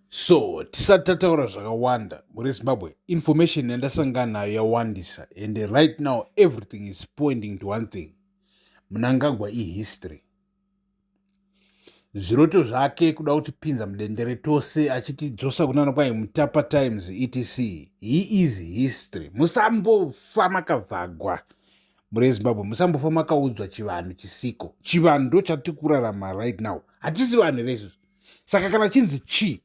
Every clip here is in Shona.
So tisati tataura zvakawanda muri Zimbabwe information yandasangana nayo yawandisa and right now everything is pointing to one thing Mnangagwa ihistory zviroto zvake kuda kutipinza mudendere tose achitidzosa kunana kwai mutapa times etc he is history musambofa makavhagwa muri ezimbabwe musambofa makaudzwa chivanhu chisiko chivanhu ndo chatiri kurarama right now hatisi vanhu here izvozvo saka kana chinzi chii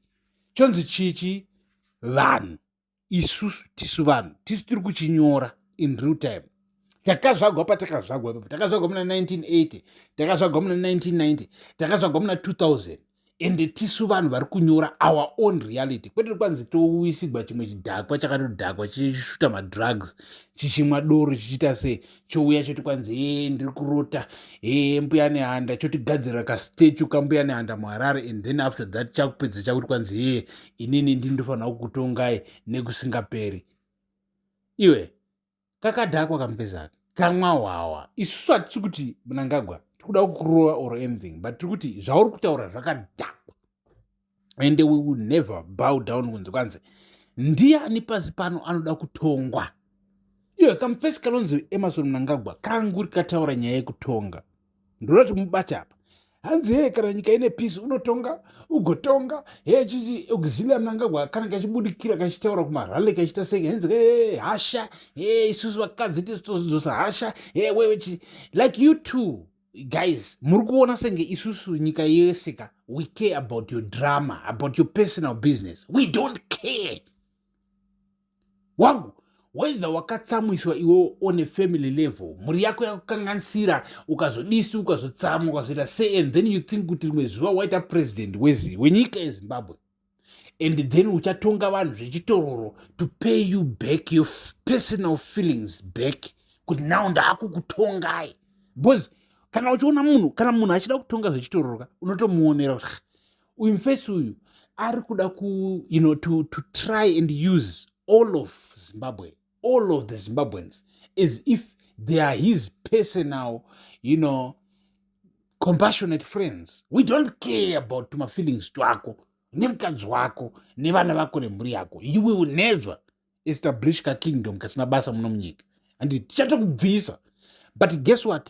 chonzi chii chii vanhu isusu tisu vanhu tisu tiri kuchinyora in real time takazvagwa patakazvagwa ipapo takazvagwa muna 1980 takazvagwa muna 1990 takazvagwa muna 2000 ende tisu vanhu vari kunyora our own reality kwete kwanzi touisigwa chimwe chidhakwa chakatodhakwa chichishuta madrugs chichimwa doro chichiita sei chouya choti kwanzi ee ndiri kurota ee mbuya nehanda chotigadzirira kastechu kambuya nehanda muharare and then after that chakupedza chakuti kwanzi ee inini ndi ndofanira kukutongai nekusingaperi iwe kakadhakwa kamupezaka kamwa hwawa isusu hatisi kuti munangagwa tiri kuda kukurova or anything but tiri kuti zvauri kutaura zvakadhakwa ende we will never bow down kunzi kwanzi ndiani pasi pano anoda kutongwa iyo kamufesi kanonzi emarson mnangagwa kanguri kataura nyaya yekutonga ndoda kuti mubate apa hanzi hee kana nyika ine peace unotonga ugotonga hee chichi auxilia mnangagwa kana kachibudikira kachitaura kumarale kachita sei hanzi hee hasha hee isusu vakadzi tizotozidzosa hasha hee wewe chi like you two guys muri kuona senge isusu nyika yese ka we care about your drama about your personal business we don't care wangu whether wakatsamwiswa iwe on a family level mhuri yako yakukanganisira ukazodisi ukazotsamwa ukazoita se and then you think kuti rimwe zuva waita president wenyika yezimbabwe and then uchatonga vanhu zvechitororo to pay you back your personal feelings back kuti now ndaakukutongai because kana uchiona munhu kana munhu achida kutonga zvechitororoka unotomuonera kuti uyu mfesi uyu ari kuda ku you know to, to try and use all of zimbabwe all of the zimbabweans as if they are his personal you know compassionate friends we don't care about tumafeelings twako nemukadzi wako nevana vako nemhuri yako you will never establish kakingdom kasina basa muno munyika and tichatokubvisa but guess what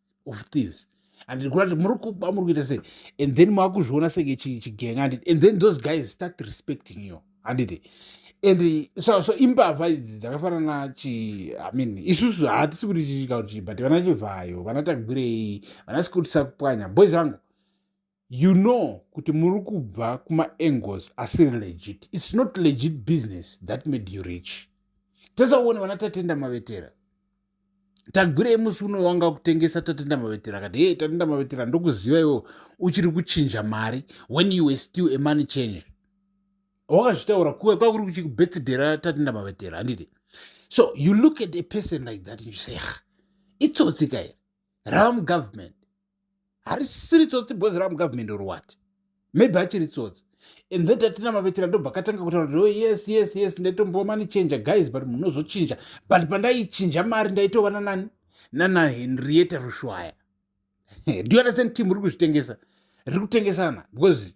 of thieves and ndiri kuona kuti muri kuba muri kuita sei and then makuzviona senge chigenga handiti and then those guys start respecting you handiti and so, so imbavha idzi dzakafanana chi i mean isusu hatisi kuti chichika kuti chibhati vana chivhayo vana tagwirei vana sikutisa kupwanya boys angu you know kuti muri kubva kumaangles asiri legit its not legit business that made you rich tesauone vana tatenda mavetera tagwirei musi uno wanga kutengesa tatenda mavetera kati hee tatenda mavetera ndokuziva iwo uchiri kuchinja mari when you were still a money change wakazvitaura kuve kwakuri kuchikubirthday ratatenda mavetera handiti so you look at a person like that and you say itsotsi kairi rava mugovernment harisiri tsotsi bozi ramu government or what maybe achiri tsotsi and then tatina mavhetera ndobva akatanga kutaura kuti oh, yes yes yes ndaitombova mani chinja guys but munozochinja but pandaichinja mari ndaitova nanani nana henrieta rushwaya do you understand team riri kuzvitengesa riri kutengesana because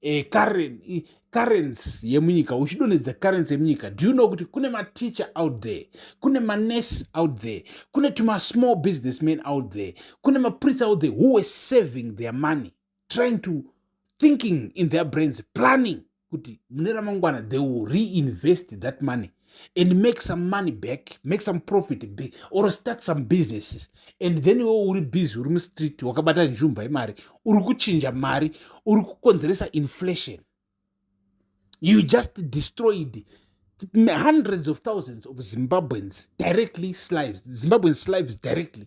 eh, currency yemunyika uchidonhedza currency yemunyika do you know kuti kune mateacher out there kune manurse out there kune tumasmall businessmen out there kune mapriest out there who were saving their money trying to thinking in their brains planning kuti mune ramangwana they will reinvest that money and make some money back make some profit back or start some businesses and then iwo uri busy uri mustreet wakabata nzvumba yemari uri kuchinja mari uri kukonzeresa inflation you just destroyed hundreds of thousands of zimbabweans directly slives zimbabwean slives directly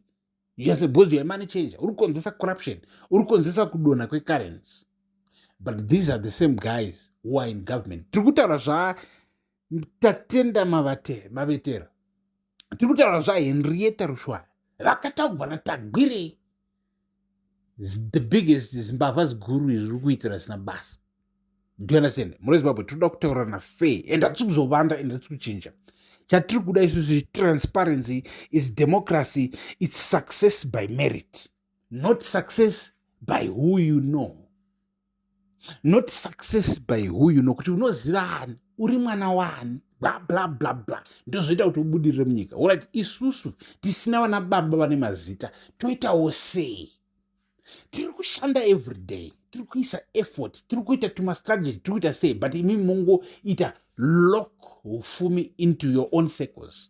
yes because you're a money changer uri kukonzeresa corruption uri kukonzeresa kudonha kwecurrency but these are the same guys who are in government tiri kutaura zvaa tatenda mavate mavetera tiri kutaura zvahenrieta rushwaya vakataugwa natagwirei the biggest zimbavha ziguru iri riri kuitira zina basa do you understand mune zimbabwe tinoda kutaurana fair and hatisi kuzovanda and hatisi kuchinja chatiri kuda isusu transparency is democracy its success by merit not success by who you know not success by huyu nokuti unoziva ani uri mwana waani bla bla bla bla ndozvoita kuti ubudirire munyika orit isusu tisina vana baba vane mazita toitawo sei tiri kushanda every day tiri kuisa effort tiri kuita tumastrategy tiri kuita sei but imi mongoita lock ufumi into your own circles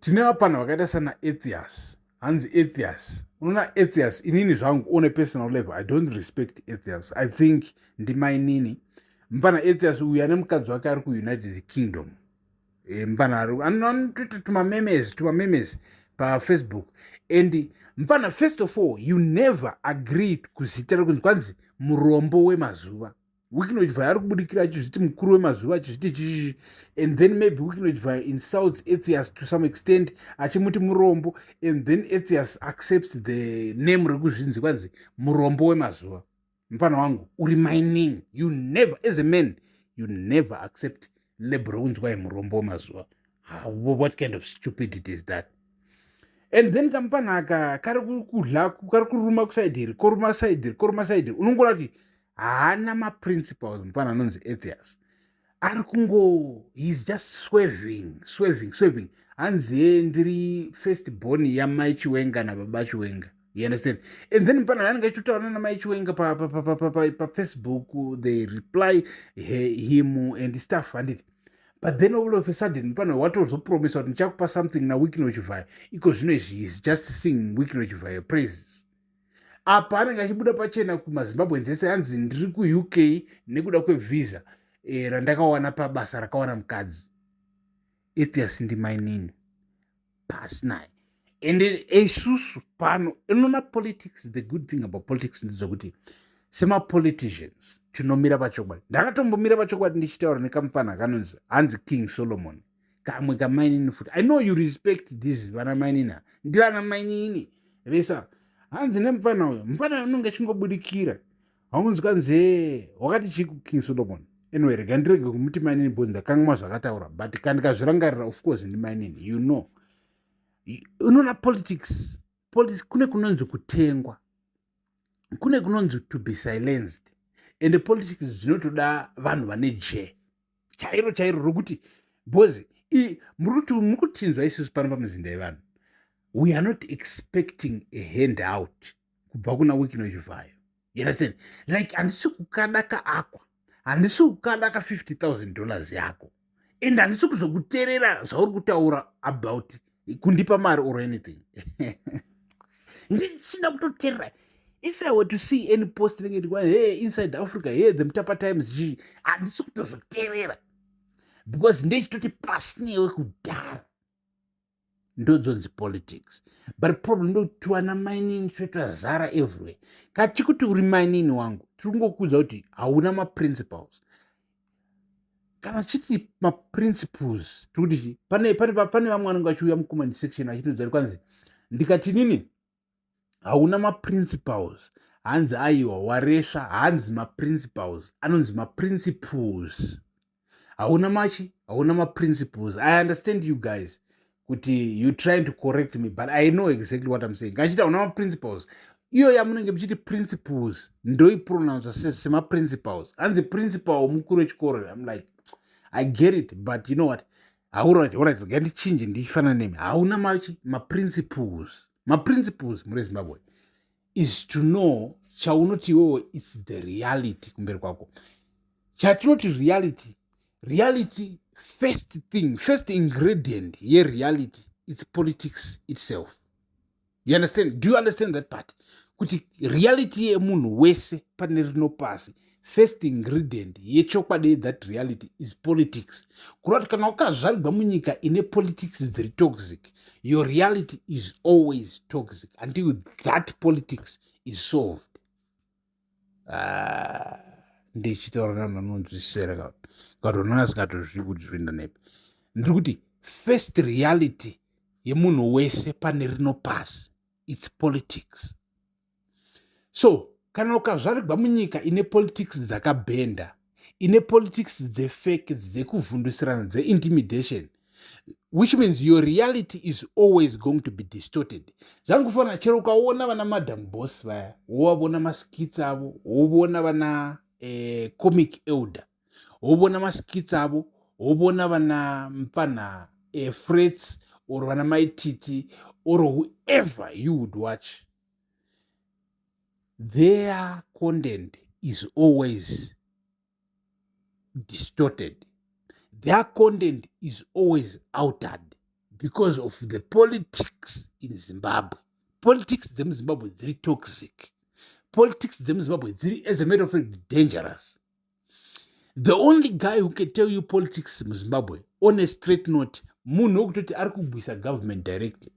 tine vapfanha vakaita sana ethias hanzi ethias unoona ethias inini zvangu one personal level i don't respect ethias i think ndimainini mfana ethias uyu ane mukadzi wake ari kuunited kingdom eh, mfana anotoita tumamemes tumamemes pafacebook and mfana first of all you never agreed kuzita rekunzi kwanzi murombo wemazuva wikinochvaya ari kubudikira achizviti mukuru wemazuva achizviti chii and then maybe wikinochvaya insults ethias to some extent achimuti murombo and then ethias accepts the name rekuzvinzi kwanzi murombo wemazuva mupana wangu uri mining you never as a man you never accept lab rokunzwai murombo wemazuva what kind of stupidity is that and then kamupana aka kari kudla kari kuruma kusaidhiri koruma saidhiri koruma saidhiri unongoona kuti haana maprinciples mufana anonzi atheus ari kungo heis just sweving sweving sweving hanziye ndiri first born yamai chiwenga nababa chiwenga you understand and then mufana anenge achitotaura namai chiwenga pafacebook they reply him and staff handiti but then all of a sudden mufana watozopromisa kuti ndichakupa something naweeknochivhayo iko zvino izvi is just sing weeknochivhayo praises apa anenge achibuda pachena kumazimbabweans ese anzi ndiri kuuk nekuda kwevhiza e, eh, randakawana pabasa rakawana mukadzi ethias ndimainini pasi naye and isusu eh, pano inona politics the good thing about politics ndedzokuti semapoliticians tinomira pachokwadi ndakatombomira pachokwadi ndichitaura nekamufana kanonzi hanzi king solomon kamwe kamainini futi i know you respect this vana mainini a ndivana mainini vesa hanzi nemupfana uyo mupfana uyo unonge achingobudikira haunzi kanzee wakati chii kuking solomon anyway rega ndirege kumuti mainini bcause ndakangamwa zvakataura but kandikazvirangarira of course ndi mainini you know unoona politics politics kune kunonzi kutengwa kune kunonzi to be silenced and politics dzinotoda vanhu vane jee chairo chairo rokuti bcoz muri kutinzwa isusu pano pamuzinda yevanhu we are not expecting a hand out kubva kuna wikino chivhayo yerasen like handisi kukada ka akwa handisi kukada ka 50 000 dollars yako and handisi kuzokuterera zvauri kutaura about kundipa mari or anything ndisina kutoterera if i were to see any post inenge ndikwa he inside africa he the mutapa times zhii handisi kutozoterera because ndechitoti pasi newe kudhara ndodzonzi politics but problem ndokuti wana mainini toitwa zara everywhere kachikuti uri mainini wangu tiri kungokuudza kuti hauna maprinciples kana tichiti maprinciples tiri kuti chii pane pane pane vamwe vanenge vachiuya mucomment section achitoudza kuti kwanzi ndikati nini hauna maprinciples hanzi aiwa waresva hanzi maprinciples anonzi maprinciples hauna machi hauna maprinciples i understand you guys kuti you trying to correct me but i know exactly what i'm saying ngachita una maprinciples iyo yamunenge muchiti principles ndoipronounsa semaprinciples hanzi principal mukuru wechikoro im like i get it but you know what haurati orit ga ndichinje ndichifanana nemi hauna machi maprinciples maprinciples muri zimbabwe is to know chaunoti iwewe its the reality kumberi kwako chatinoti reality reality first thing first ingredient yereality its politics itself you understand do you understand that part kuti reality yemunhu wese pane rino pasi first ingredient yechokwadi yethat reality is politics kureva kuti kana wakazvarigwa munyika ine politics dziri toxic your reality is always toxic until that politics is solved ah, ndichitaura nanhu anonzwisisera kati unonga asingatozvii kuti zvoenda nepi ndiri kuti first reality yemunhu wese pane rino pasi its politics so kana ukazvarigwa munyika ine politics dzakabhenda ine politics dzefake dzekuvhundusirana dzeintimidation which means your reality is always going to be distorted zvangufanira chero ukaona vana madam boss vaya wovavona maskits avo wovona vana eh, comic elder wovona maskits avo wovona vana mpfanha eh, frets or vana maititi or whoever you would watch their content is always distorted their content is always outered because of the politics in zimbabwe politics dzemuzimbabwe dziri toxic politics dzemuzimbabwe dziri as a matter of fact dangerous the only guy who can tell you politics muzimbabwe on a straight note munhu wekutoti ari kugwisa government directly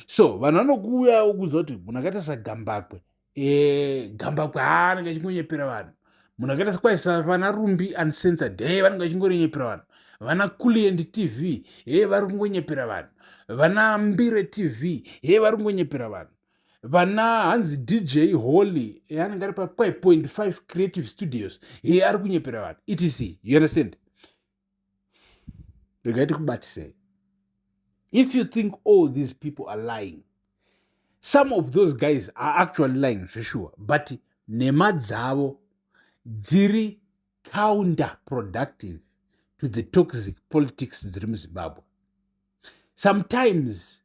so vanhu vanokuuyawo kuziva kuti munhu akaita sagambakwe eh, gambakwe haa anenge achingonyepera vanhu munhu akaita sekwaisa vana rumbi uncensored he vanenge vachingonyepera vanhu vana kuliendi tv he vari kungonyepera vanhu vana mbire tv he vari kungonyepera vanhu vana hanzi dj holy eh, anenge ari pa5.5 creative studios iye ari kunyepera vanhu etc you understand regai tikubatisei if you think all these people are lying some of those guys are actually lying zveshuwa but nhema dzavo dziri counter productive to the toxic politics dziri muzimbabwe sometimes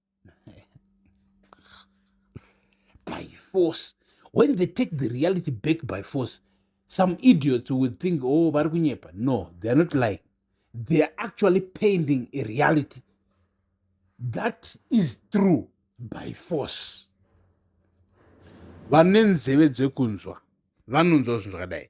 by force when they take the reality back by force some idiots will think oh vari kunyepa no they are not lying they are actually painting a reality that is true by force vane nzeve dzekunzwa vanonzwa zvinhu zvakadai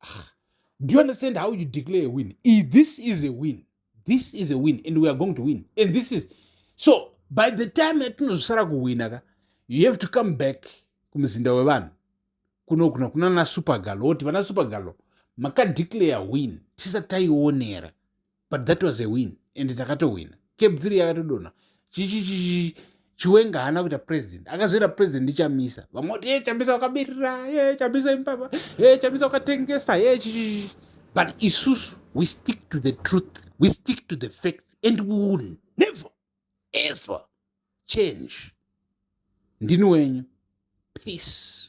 ah, do you understand how you declare a win I, this is a win this is a win and we are going to win and this is so by the time yatinozosara kuwina ka you have to come back kumuzinda wevanhu kuno kuna kuna na supergalo woti vana supergalo makadeclare win tisati taionera but that was a win and takatohwina cape three yakatodonha chichichichi chiwenga haana kuita president akazoita president ndichamisa vamwe kuti ye chamisa wakabirira ye chamisa imbaba ye chamisa wakatengesa ye chichichi but isusu we stick to the truth we stick to the facts and we will never ever change ndini wenyu peace